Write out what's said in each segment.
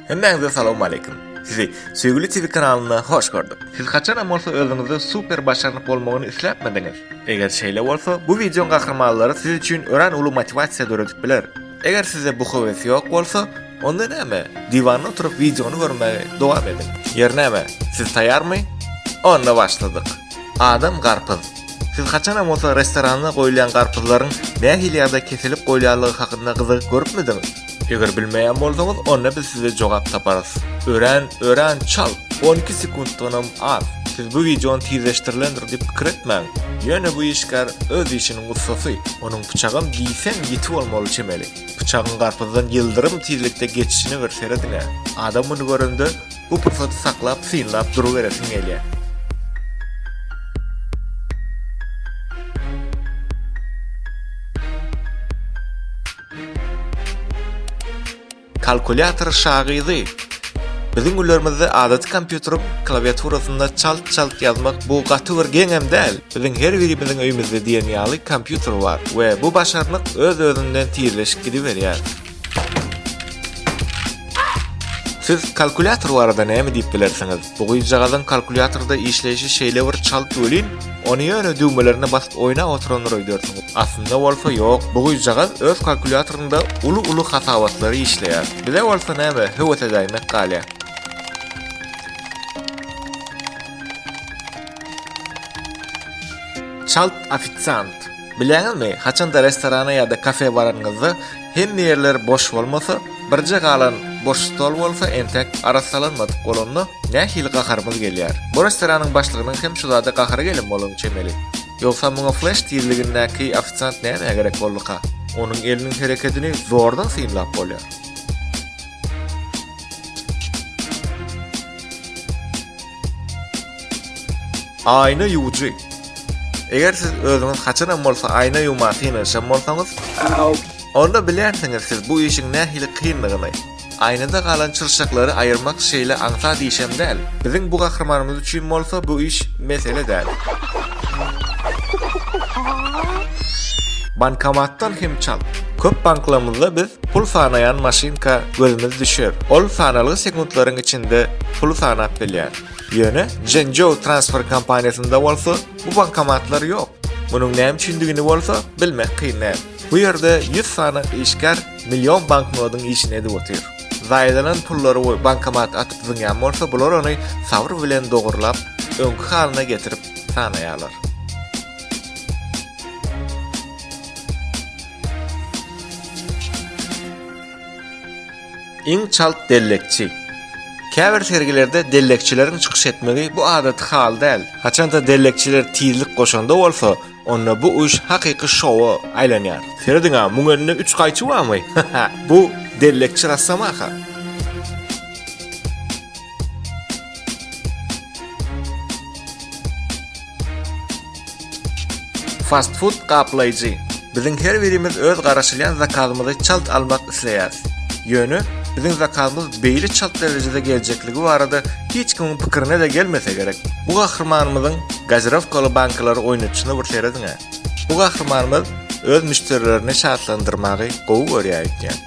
Hemmäňize salowmaleýkim. Sizi Söýgüli TV kanalynda hoş gördük. Siz haçanam bolsa özüňizde super başarnyk bolmagyny isläpmidiňiz? Eger şeýle bolsa, bu wideoň gahrymanlary siz üçin örän uly motiwasiýa döredip biler. Eger sizde bu höwes ýok bolsa, onda näme, diwanda oturyp wideony görmegi dowam ediň. Ýeri näme, siz taýýarmy? Onda başladyk. Adam garpyz. Siz haçanam bolsa restoranda goýulýan garpyzlaryň nähili ýagda kesilip goýulýanlygy hakynda gyzygyp görüpmidiňiz? Eger bilmeýän bolsaňyz, onda biz size jogap taparys. Örän, örän çalt, on iki sekuntdanam az. Siz bu wideony tizleşdirilendir diýip pikir etmäň. Ýöne bu işgär öz işiniň ussasy, onuň pyçagam diýseň ýiti bolmaly çemeli. Pyçagyň garpyzdan ýyldyrym tizlikde geçişine bir serediň-ä. Adam muny görende, Bu pursaty saklap, synlap duruberesim gelýär. Kalkulýator şagyzy Biziň günlerimizde adaty kompýuteryň klawiaturasynda çalt-çalt ýazmak bu gaty bir geňem däl. Biziň her birimiziň öýümizde diýen ýaly kompýuter bar we bu başarnyk öz-özünden tizleşip gidiberýär. Siz kalkulýator barada näme diýip bilersiňiz? Bu gyzjagazyň kalkulýatorda işleýşi şeýle bir çalt welin, ony ýöne düwmelerine basyp oýnap oturandyr öýdersiň. Aslynda bolsa ýok, bu gyzjagaz öz kalkulýatorynda uly-uly hasabatlary işleýär. Bize bolsa näme, höwes edäýmek galýar. Çalt ofisiant. Bilýäňizmi, haçanda restorana ýa-da kafe baranyňyzda, hemme ýerler boş bolmasa, birje galan boş stol bolsa entek arassalanmadyk bolanda, nähili gaharymyz gelýär. Bu restoranyň başlygynyň hem şu zada gahary gelen bolany çemeli. Ýogsa muňa fleş tizligindäki ofisiant nämä gerek bolduka? Onuň eliniň herekedini zordan synlap bolýar. Aýna ýuwujy. Eger siz özüňiz haçanam bolsa aýna ýuwmaga synanyşan bolsaňyz, onda bilersiňiz siz bu işiň nähili kyndygyny. Aýnada galan çyrşaklary aýyrmak şeýle aňsat işem däl. Biziň bu gahrymanymyz üçin bolsa bu iş mesele däl. Bankomatdan hem çal. Köp banklarymyzda biz Pul sanaýan maşynka gözümiz düşer. Ol sanalgy sekuntlaryň içinde puly sanap bilýär. Ýöne Zhenzhou transfer kompaniýasynda bolsa bu bankomatlar ýok. Munuň näme üçindigini bolsa bilmek kyn däl. Bu ýerde 100 sany işgär million banknodyň işini edip otyr. Zaýalanan pullary bankomata atyp zyňýan bolsa bular ony sabyr bilen dogurlap, öňki halyna getirip sanaýarlar. Iň çalt dellekçi. Käbir sergilerde dellekçileriň çykyş etmegi bu adaty hal däl. Haçanda dellekçiler tizlik goşanda bolsa, onda bu iş hakyky şowa aýlanýar. Serediň-ä, muň elinde üç gaýçy barmy? Bu dellekçi rassamaka. Fast food gaplaýjy. Biziň her birimiz öz garaşylýan zakazymyzy çalt almak isleýäris. Ýöne biziň zakazymyz beýle çalt derejede geljekligi barada hiç kimiň pikirine-de gelmese gerek. Bu gahrymanymyzyň gazirowkaly bankalary oýnadyşyna bir serediň-ä. Bu gahrymanymyz öz müşderilerini şatlandyrmagy gowy görýär öýtýän.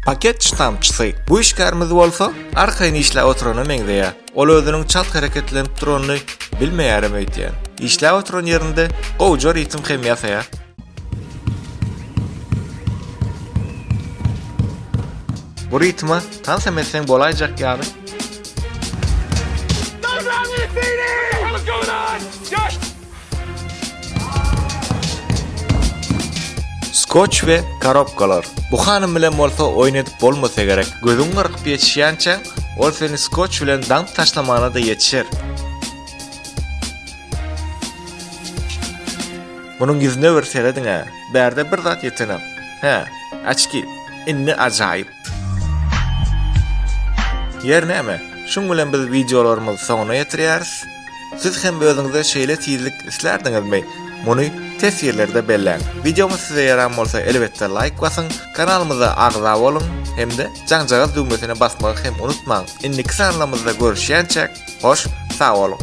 Paket ştampçysy. Bu işgärimiz bolsa arkaýyn işläp oturana meňzeýär. Ol özüniň çalt hereketlenip duranyny bilmeýärem öýtýän. Işläp oturan ýerinde gowja ritm hem ýasaýar. Bu ritme tansam etseň bolaýjak ýaly. Skoç we korobkalar. Bu hanym bilen bolsa oýun edip bolmasa gerek. Gözüň gyrkyp ýetişýänçäň, ol seni skoç bilen daňyp taşlamana-da ýetişer. Munuň ýüzüne bir serediň-ä. Bärde bir zat ýetenem. Hä, açki. Indi ajaýyp. Ýer näme? Şuň bilen biz wideolarymyzy soňuna ýetirýäris. Siz hem özüňize şeýle tizlik islärdiňizmi? Muny teswirlerde belläň. Wideomyz size ýaran bolsa elbetde laýk basyň, kanalymyza agza boluň hem-de jaňjagaz düwmesine basmagy hem unutmaň. Indiki sanlarymyzda görüşýänçäk, hoş sag boluň!